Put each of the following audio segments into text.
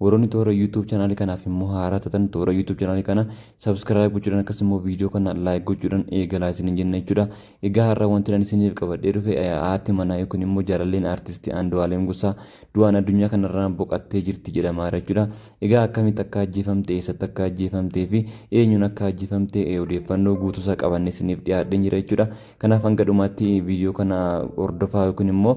Warroonni toora YouTube channel kanaaf immoo haaraa taatan toora YouTube channel kana subscribe gochuudhaan akkasumas immoo viidiyoo kana like gochuudhaan eegalaa isiniin jenna jechuudha. Egaa har'a wanti ani isiniif qabadhee dhufe haati manaa yookiin immoo jaalalleen artistii Andu'aalem Gosaa du'aan addunyaa kanarraa boqattee jirti jedhamaa jira jechuudha. Egaa akkamitti akka ajjeefamte, eessatti akka ajjeefamtee fi eenyuun akka ajjeefamte odeeffannoo guutuusaa qabannee isiniif dhiyaadheen jira jechuudha. Kanaaf hanga dhumaatti viidiyoo kana hordofaa yookiin immoo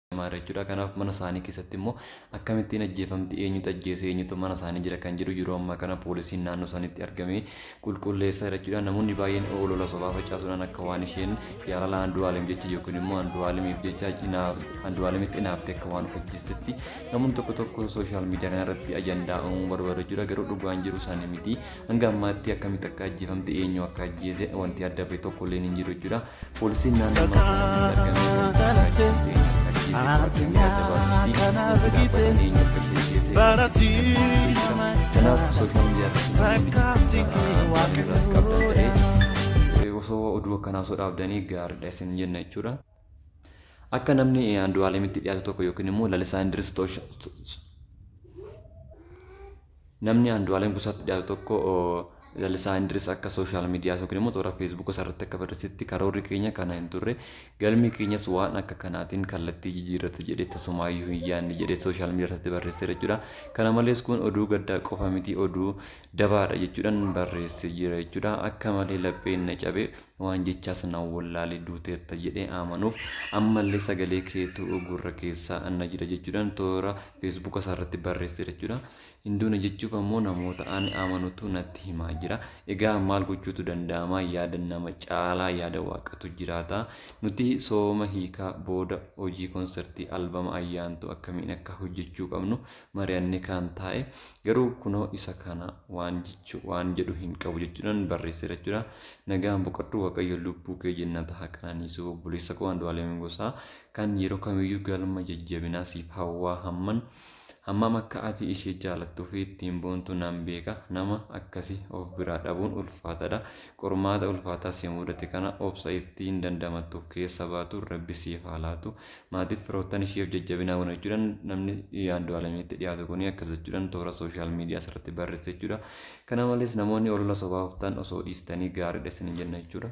jedhamaara jechuudha. Kanaaf mana isaanii keessatti immoo akkamittiin ajjeefamti eenyutu ajjeese eenyutu mana isaanii jira kan jedhu yeroo ammaa kana poolisiin naannoo isaaniitti argamee qulqulleessaa jira jechuudha. Namoonni baay'een olola sobaa facaasuudhaan akka waan isheen jaalala Andu'aalem jecha yookiin immoo Andu'aalemiif jecha Andu'aalemitti inaaftee akka waan of ajjeestetti namoonni tokko tokko sooshaal miidiyaa kanarratti ajandaa uumuu barbaadu jechuudha. Garuu dhugaan jiru isaanii miti. Hanga ammaatti akkamitti akka ajjeefamte eenyu akka ajjeese wanti adda bahe tokko illee hin jiru jechuudha. Poolisiin naannoo Maakalaawii osoo oduu akkanaa osoo dhaabdanii gaariidha isin jenna jechuudha. Akka namni Andu'aalemitti dhiyaatu tokko yookiin immoo Lalisaa Indiris Namni Andu'aalem Gosaatti dhiyaatu tokko Lalisaa Indiris akka sooshaal miidiyaa yookiin immoo toora feesbuuka isaarratti akka barreessetti karoorri keenya kana hin turre galmi keenyas waan akka kanaatiin kallattii jijjiirrata jedhee tasumaayyuu hin yaadne jedhee sooshaal miidiyaa irratti barreesseera jechuudha. Kana malees kun oduu gaddaa qofa miti oduu dabaadha jechuudhaan barreessee jira jechuudha. Akka malee lapheen na cabe waan jechaas na wallaale duuteetta jedhee amanuuf ammallee sagalee keetu gurra keessa na jira jechuudhaan toora feesbuuka isaa irratti barreesseera jechuudha. Hin duune jechuuf ammoo namoota ani amanutu natti himaa jira. Egaa maal gochuutu danda'ama? Yaada nama caalaa yaada waaqatu jiraata. Nuti sooma hiikaa booda hojii konsertii albama ayyaantu akkamiin akka hojjechuu qabnu mari'annee kaan taa'e. Garuu kunoo isa kana waan jechu waan jedhu hin qabu jechuudhaan barreesseera jechuudha. Nagaan boqadhu Waaqayyo lubbuu kee jennata haa qananiisu obboleessa koo Andu'aalem Gosaa Kan yeroo kamiyyuu galma jajjabinaa siif hawwaa hamman hammam akka ati ishee jaalattuu fi ittiin boontu nan beeka nama akkasi of biraa dhabuun ulfaatadha qormaata ulfaataa si mudate kana obsa itti hin dandamattuuf keessa baatu rabbi siif haa laatu maatiif firoottan isheef jajjabinaa gona jechuudhan namni Andu'aalamitti dhiyaatu kuni akkas jechuudhan toora sooshaal miidiyaa irratti barreesse jechuudha kana malees namoonni olola sobaa oftan osoo dhiistanii gaariidha isin jenna jechuudha.